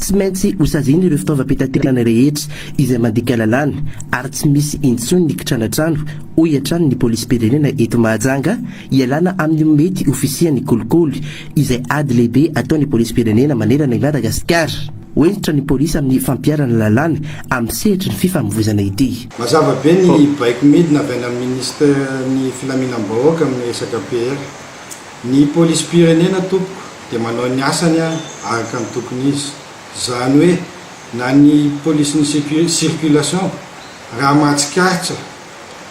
Tsy maintsy hosaziana ireo fitaovam-pitaterana rehetra izay mandika lalàna ary tsy misy intsony ny kitranatrano, hoy hatrany ny polisim-pirenena eto Mahajanga, hialana amin'ny mety ho fisian'ny kolikoly, izay ady lehibe ataon'ny polisim-pirenena manerana i Madagasikara. Ho hentitra ny polisy amin'ny fampiharana lalàna amin'ny sehatry ny fifamoivoizana ity. Mazava be ny baiko midina avy any amin'ny Minisiteran'ny Filaminam-bahoaka amin'ny resaka PR. Ny Polisim-pirenena tompoko dia manao ny asany araka ny tokony izy. Izany hoe na ny Polisin'ny Circulation raha mahatsikaritra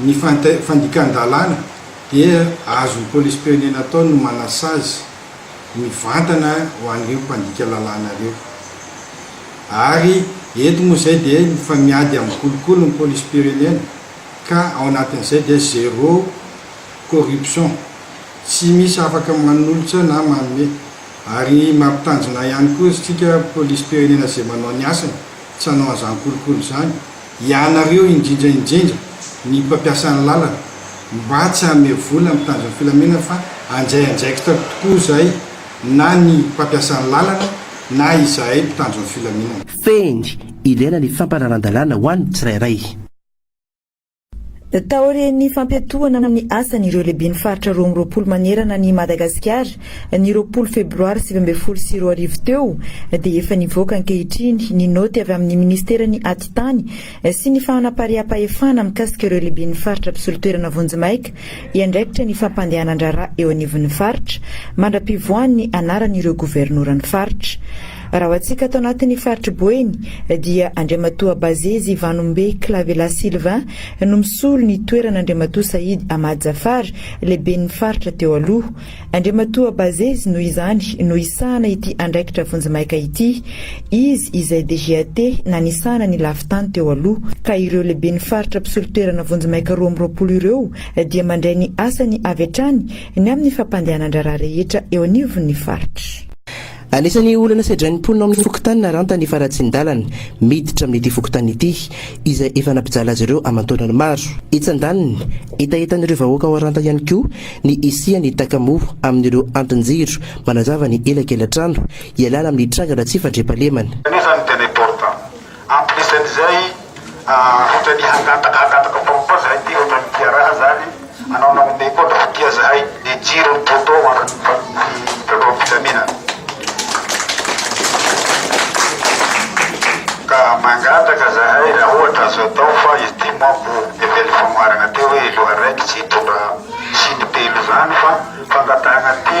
ny fandikan-dalàna dia azon'ny Polisim-pirenena atao ny manasazy mivantana ho an'ireo mpandika lalàna ireo. Ary eto moa izay dia mifamiady amin'ny kolikoly ny polisim-pirenena ka ao anatin'izay dia zéro corruption, tsy misy afaka manolotra na manome. Ary mampitanjona ihany koa isika polisim-pirenena izay manao ny asany tsy hanao an'izany kolikoly izany. Ianareo indrindra indrindra ny mpampiasa ny lalana mba tsy hanome vola amin'ny tanjon'ny filamina fa handray andraikitra tokoa izay na ny mpampiasa ny lalana na izahay mpitandro ny filaminana. Fehiny, ilaina ny fampanaran-dalàna ho an'ny tsirairay. Taorian'ny fampiatohana ny asan'ireo lehiben'ny faritra roa amby roapolo manerana an'i Madagasikara, ny roapolo febroary sivy ambin'ny folo sy roa arivo teo, dia efa nivoaka ankehitriny ny naoty avy amin'ny minisiteran'ny Atitany sy ny fanapariaham-pahefana mikasika ireo lehiben'ny faritra mpisolo toerana vonjimaika hiandraikitra ny fampandehanan-draharaha eo anivon'ny faritra, mandra-pivoahan'ny anaran'ireo governoran'ny faritra. Raha ho antsika ato anatin'ny faritr'i Boeny dia Andriamatoa Bazezy Vanombe Clavela Sylvain no misolo ny toeran'Andriamatoa Sahidy Ahmad Zafar, lehiben'ny faritra teo aloha. Andriamatoa Bazezy noho izany no hisahana ity andraikitra vonjimaika ity. Izy izay DGAT nanisahana ny lafin-tany teo aloha ka ireo lehiben'ny faritra mpisolo toerana vonjimaika roa amby roapolo ireo dia mandray ny asany avy hatrany ny amin'ny fampandehanan-draharaha rehetra eo anivon'ny faritra. Anisan'ny olana sedrain'ny mponina ao amin'ny fokontany Naranta ny faharatsian-dalana miditra amin'ity fokontany ity, izay efa nampijaly azy ireo aman-taonany maro. Etsy andaniny, hetahetan'ireo vahoaka ao Aranta ihany koa ny hisian'ny takamo amin'ireo antin-jiro manazava ny elakelatrano hialana amin'ny trangana tsy fandriampahalemana. Anisan'ny teniporta Ampidisan'izay, ohatra ny hangataka hangataka fomba koa zahay ty ohatra ny tia raha zany, anao nanome koa ndao ho tia zahay, le jiro ny poteau andron'ny fifandraisam-pilaminana. Ka mangataka zahay raha ohatra azo atao fa izy ty manko efa ela famoharana teo hoe loha raiky tsy hitondra siny telo zany fa fangatahana ty,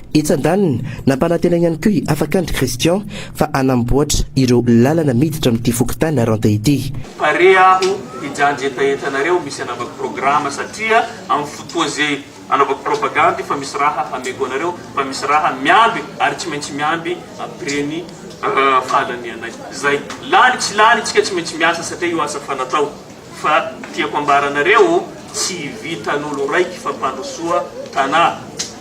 Etsy andaniny, nampanantena ihany koa i Afakandry Christian fa hanamboatra ireo lalana miditra amin'ity fokontany Naranta ity. Pare aho hijanjy hetahetanareo misy anaovako programa satria am fotoa ze anaovako propagandy fa misy raha hameko anareo fa misy raha miamby ary tsy maintsy miamby après ny fahalanianay zay lany tsy lany tsika tsy maintsy miasa satria io asa fanatao Fa tiako ambaranareo tsy vitan'olo raiky fampandrosoa tanà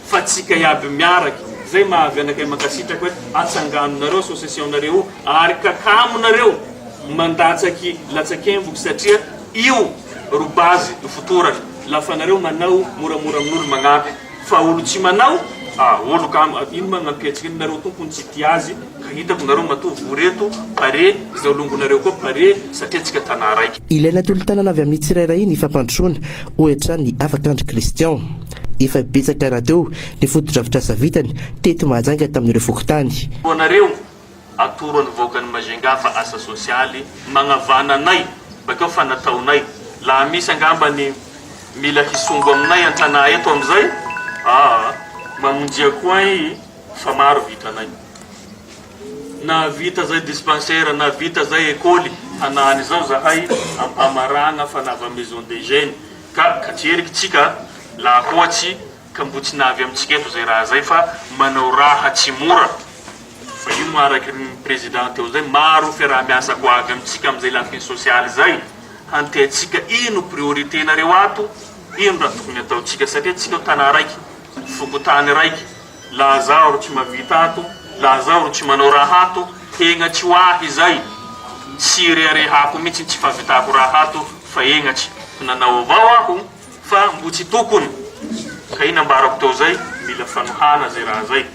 fa tsika iaby miaraky zay mahavy anakay mankasitraka hoe atsangano nareo association nareo ary kakamo nareo mandatsaky latsakemboky satria io ro base ny fotorana lafa nareo manao moramora amin'olo magnampy fa olo tsy manao ah olo kamo ino magnampihetsika ino nareo tompony tsy tia azy Ka hitako nareo matoa vory eto pare izao longonareo koa pare satria antsika tana raika. Ilaina tolo-tanana avy amin'ny tsirairay ny fampandrosoana, hoy hatrany i Afakandry Christian. Efa betsaka rahateo ny fotodrafitrasa vitany teto Mahajanga tamin'ireo fokontany. Koa anareo, atoro an'ny vahoakan'i Majunga fa asa sosialy magnavana anay bakeo fa nataonay. Laha misy angamba ny mila hisongo aminay an-tanà eto amin'izay, aa, mamonjia koa an i Fa maro vitanay. Nahavita zay dispensaire, nahavita zay ekoly. Hanahany izao zahay ampamaragna fa nava maison des jeunes ka katreriky tsika laha hoatsy ka mbo tsy navy amitsika eto zay raha zay fa manao raha tsy mora fa io moa araky ny président teo zay maro fiaraha miasa ko avy amitsika amizay lafiny sociale zay hanteatsika ino priorité nareo ato ino raha tokony ataotsika satria tsika tana raiky Fokontany raiky, laha zaho ro tsy mavita ato, laha zaho ro tsy manao raha ato, hegnatry ho ahy zay, tsy ireharehako mitsy ny tsy fahavitako raha ato fa hegnatry, nanao avao aho fa mbo tsy tokony, ka iny ambarako teo zay, mila fanohana zay raha zay.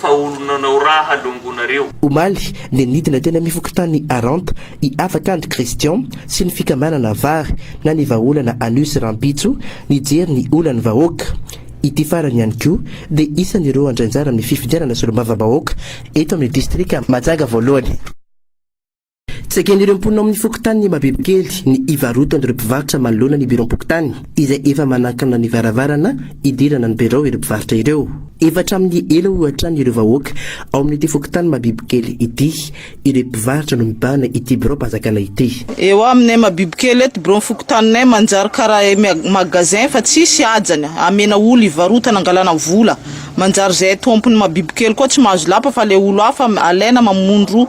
fa olona anao ra halongonareo. Omaly dia nidina teny amin'ny fokontany Aranta i Afakandry Christian sy ny fikambanana Vary na ny vahaolana Anus rahampitso nijery ny olan'ny vahoaka. Ity farany ihany koa dia isan'ireo handray anjara amin'ny fifidianana solombavambahoaka eto amin'ny distrika Mahajanga voalohany. Tsy eken'ireo mponina ao amin'ny fokontany Imabebokely ny hivarotan'ireo mpivarotra manoloana ny biraom-pokontany izay efa manakana ny varavarana hidirana ny birao ireo mpivarotra ireo. Efa hatramin'ny ela hoy hatrany ireo vahoaka ao amin'ity fokontany Mabibokely ity, ireto mpivarotra no mibahana ity biraom-panjakana ity. Eo aminay Mabibokely eto, biraon'ny fokontaninay manjary karaha magasin fa tsisy hajany, amena olo hivarotana angalana vola, manjary zahay tompony Mabibokely koa tsy mahazo lapa fa le olo hafa alaina mamondro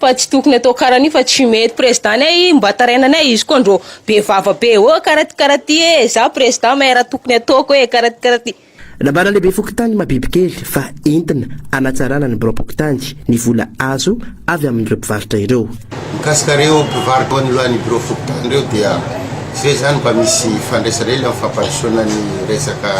Fa tsy tokony atao karan'io fa tsy mety président nay mba taraina nay izy koa ndro be vava be oh karaty karaty eh za président may raha tokony ataoko eh karaty karaty. Nambaran'ny lehibe fokontany Mabibikely fa entina hanatsarana ny biraom-pokontany ny vola azo avy amin'ireo mpivarotra ireo. Mikasika ireo mpivarotra eo anoloan'ny birao fokontany ireo dia tsy ve izany mba misy fandraisana ela amin'ny fampandrosoana ny resaka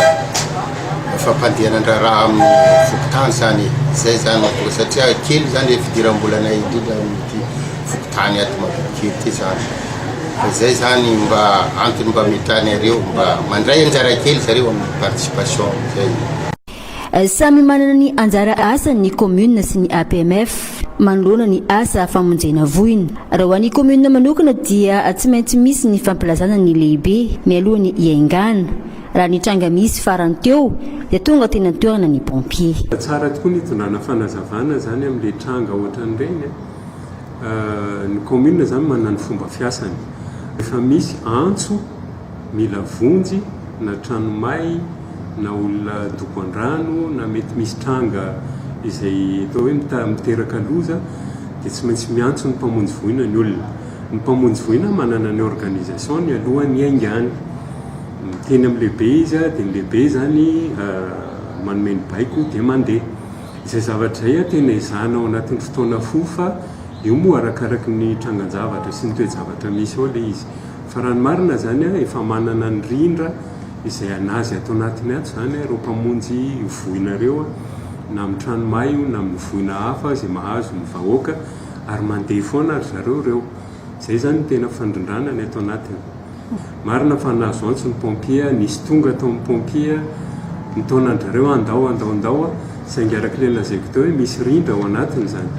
ny fampandehanan-draharaha amin'ny fokontany izany e, izay izany no atao satria kely izany ilay fidiram-bolanay indrindra amin'ity fokontany ato Mabokikely ity izany, ka izay izany mba antony mba ametrahan'iareo mba mandray anjara kely zareo amin'ny participation, izay. Samy manana ny anjara asany ny commune sy ny APMF manoloana ny asa famonjena voina. Raha ho an'ny commune manokana dia tsy maintsy misy ny fampilazana ny lehibe mialoha ny hiaingàna. Raha ny tranga misy farany teo dia tonga teny an-toerana ny pompier. Tsara tokoa ny hitondrana fanazavana izany amin'ilay tranga ohatran'ireny a! Ny kaominina izany manana ny fomba fiasany. Rehefa misy antso mila vonjy na trano may na olona dobo an-drano na mety misy tranga izay atao hoe miteraka loza dia tsy maintsy miantso ny mpamonjy voina ny olona. Ny mpamonjy voina manana ny organisation-ny alohan'ny hiaingàny. Miteny amin'ny lehibe izy, dia ny lehibe izany manome ny baiko dia mandeha. Izay zavatra izay tena ezahina ao anatin'ny fotoana fohy fa io moa arakaraky ny trangan-javatra sy ny toe-javatra misy ao ilay izy. Fa raha ny marina izany, efa manana ny rindra izay an'azy ato anatiny ato izany ireo mpamonjy io voina ireo, na amin'ny trano may io na amin'ny voina hafa izay mahazo ny vahoaka, ary mandeha foana ry zareo ireo. Izay izany no tena fandrindrana ny ato anatiny. Marina fa nahazo antso ny pompier, nisy tonga tao amin'ny pompier, nitaona an-dry zareo hoe andao, andao, andao, saingy araka ilay nolazaiko teo hoe misy rindra ao anatiny izany.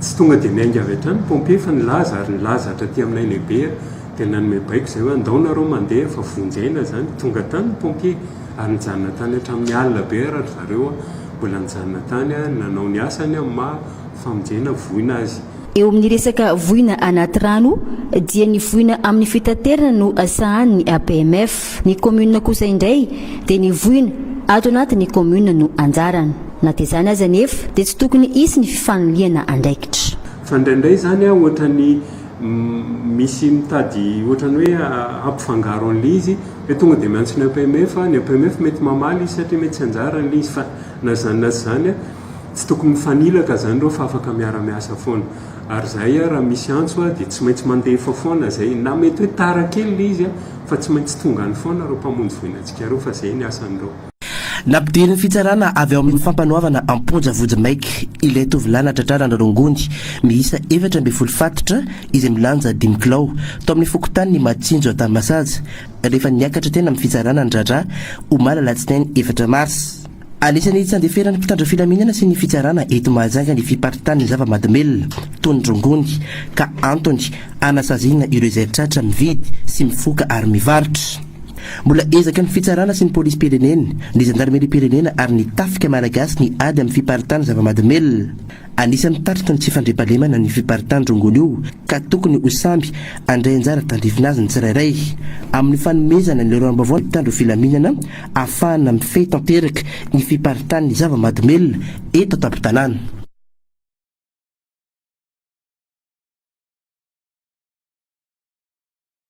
Tsy tonga dia niainga avy hatrany ny pompier fa nilaza ary nilaza hatraty aminay lehibe dia nanome baiko izay hoe andao nareo mandeha fa vonjy aina izany. Tonga tany ny pompier ary nijanona tany hatramin'ny alina be ara-dry zareo mbola nijanona tany nanao ny asany amin'ny maha famonjena voina azy. Eo amin'ny resaka voina anaty rano dia ny voina amin'ny fitaterana no sahanin'ny APMF. Ny kaominina kosa indray dia ny voina ato anatin'ny kaominina no anjarany. Na dia izany aza anefa dia tsy tokony hisy ny fifanilihana andraikitra. Fa indraindray izany ohatran'ny misy mitady ohatran'ny hoe hampifangaro an'ilay izy hoe tonga dia miantso ny APMF, ny APMF mety mamaly izy satria mety tsy anjarany ilay izy. Fa na izany na tsy izany. Tsy tokony mifanilaka izany ireo fa afaka miara-miasa foana. Ary izahay ary raha misy antso dia tsy maintsy mandefa foana izay, na mety hoe tara kely ilay izy fa tsy maintsy tonga any foana ireo mpamonjy voina antsika ireo fa izay ny asan'ireo. Nampidirin'ny fitsarana avy ao amin'ny fampanoavana am-ponja vonjimaika ilay tovolahy natratrarana rongony miisa efatra ambin'ny folo fatitra izay milanja dimy kilao, tao amin'ny fokontanin'i Matsinjo Antanimasaza, rehefa niakatra teny amin'ny fitsarana ny raharaha, omaly alatsinainy efatra marsa. Anisan'ny tsy andeferan'ny mpitandro filaminana sy ny fitsarana eto Mahajanga ny fiparitahan'ny zava-mahadomelina toy ny rongony ka antony hanasaziana ireo izay tratra mividy sy mifoka ary mivarotra. Mbola ezaka ny fitsarana sy ny polisim-pirenena, ny zandarimeriam-pirenena ary ny tafika malagasy ny ady amin'ny fiparitahan'ny zava-mahadomelina. Anisan'ny tatitra ny tsy fandriampahalemana ny fiparitahan'ny rongony io ka tokony ho samby handray anjara tandrifina azy ny tsirairay amin'ny fanomezana ny lalàm-baovao ny mpitandro filaminana ahafahana mifehy tanteraka ny fiparitahan'ny zava-mahadomelina eto an-tampon-tanàna.